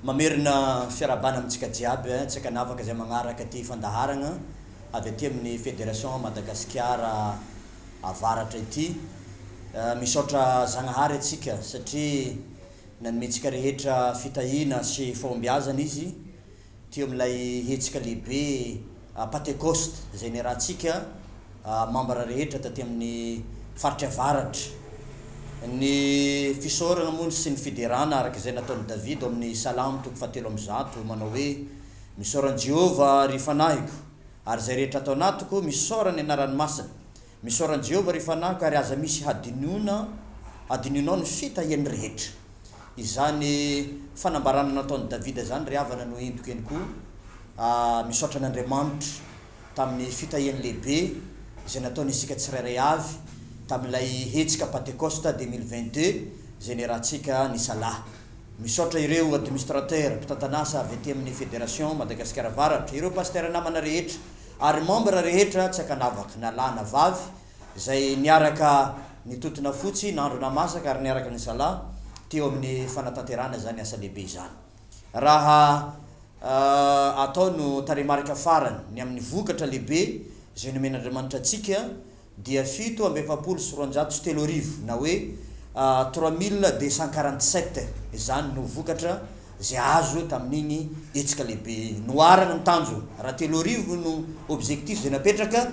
Mamerina fiarahabana amintsika jiaby, tsy ankanavaka izay magnaraka ity fandaharagna avy aty amin'ny Fédération Madagasikara Avaratra ity. Misaotra Zagnahary antsika satria nanomentsika rehetra fitahiana sy fahombiazana Izy. teo amin'ilay hetsika lehibe Patekosta izay niarahantsika mambra rehetra taty amin'ny faritra avaratra. Ny fisaorana moa sy ny fiderana araka izay nataon'i Davida ao amin'ny Salamo toko fahatelo amby zato manao hoe, Misaora an'i Jehovah, ry fanahiko, ary izay rehetra ato anatiko, misaora ny anarany masina. Misaora an'i Jehovah ry fanaka, ary aza misy hadinoina hadinonao ny fitahiany rehetra. Izany fanambarana nataon'i Davida izany ry havana no entiko eny koa, Aah, misaotra an'Andriamanitra tamin'ny fitahiany lehibe izay nataony isika tsirairay avy tamin'ilay hetsika Pantekosta 2022 izay niarahantsika nisalahy. Misaotra ireo Administrateurs, mpitantan'asa avy aty amin'ny Federation Madagasikara Avaratra, ireo Pasteurs namana rehetra ary membre rehetra tsy ankanavaka na lahy na vavy izay niaraka nitotona fotsy nandro namasaka ary niaraka nisala teo amin'ny fanatanterahana izany asa lehibe izany raha atao no tarehimarika farany ny amin'ny vokatra lehibe izay nomen'Andriamanitra antsika dia fito amby efapolo sy roanjato sy telo arivo na hoe trois mille deux cent quarante sept izany no vokatra izay azo tamin'iny hetsika lehibe iny. Noharana ny tanjona, raha telo arivo no objectif izay napetraka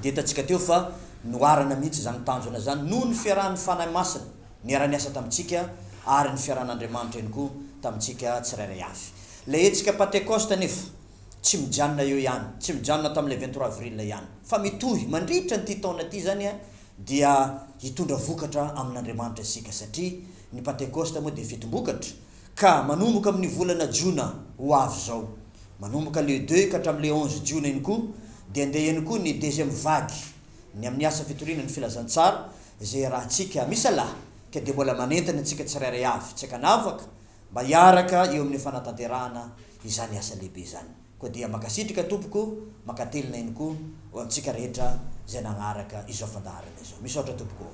dia hitantsika teo fa noharana mihitsy izany tanjona izany noho ny fiarahan'ny Fanahy Masina niara-niasa tamintsika ary ny fiarahan'Andriamanitra ihany koa tamintsika tsirairay avy. Ilay hetsika Pantekosta anefa. Tsy mijanona eo ihany, tsy mijanona tamin'ilay vingt trois avril ihany, fa mitohy mandritra an'ity taona ity izany dia hitondra vokatra amin'Andriamanitra isika, satria ny Pantekosta moa dia fetim-bokatra, ka manomboka amin'ny volana jona ho avy izao, manomboka le deux ka hatramin'ny le onze jiona iny koa, dia handeha ihany koa ny deuxième vague, ny amin'ny asa fitoriana ny filazantsara, izay iarahantsika misalahy, ka dia mbola manentana antsika tsirairay avy, tsy ankanavaka, mba hiaraka eo amin'ny fanatanterahana izany asa lehibe izany. Koa dia mankasitrika tompoko, mankatelina ihany koa ho antsika rehetra izay nanaraka izao fandaharana izao. Misaotra tompoko ô.